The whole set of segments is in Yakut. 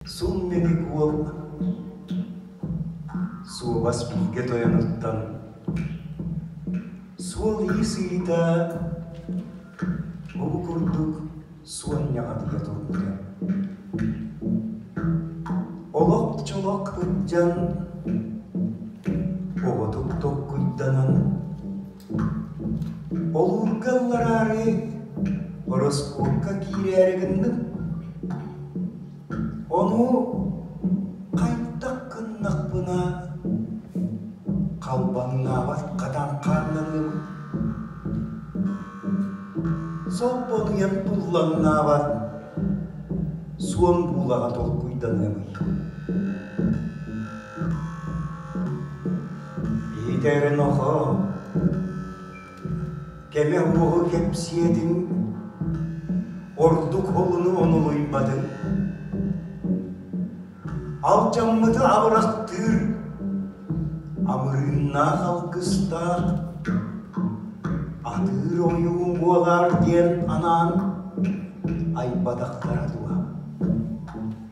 Сум-ньадьык уол суобас бииргэ тойонуттан суол-иис ыйыта ол курдук суонньаҕатыйа турбута. Олох чолох кырдьан оҕотук токкуйданан Олуурга ыллараары ороскуокка киирээри гынным, ону хайдах гыннахпына халбаҥнаабат хатан хаалланыыбын, солбонуйан буллаҥнаабат суон буулаҕа толкуйданыамый. Итэрнохоо, кэлэн буһу кэпсиэтиҥ, ордук холуну онулуйбатыҥ, алдьаммыты абырахтыыр, амырыыннаах алгыстаах, атыыр ойуун буолаар диэн анаан айбатахтара дуо?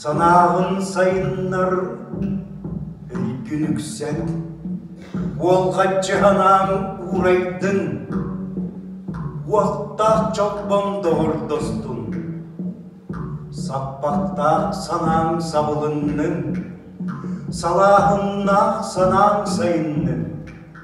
Санааҕын сайыннар, өйгүн үксэн, уолҕаччы санааҥ уурайдын, уохтаах чолбоҥ доҕордостун, саппахтаах санааҥ сабылыннын, салааһыннаах санааҥ сайыннын.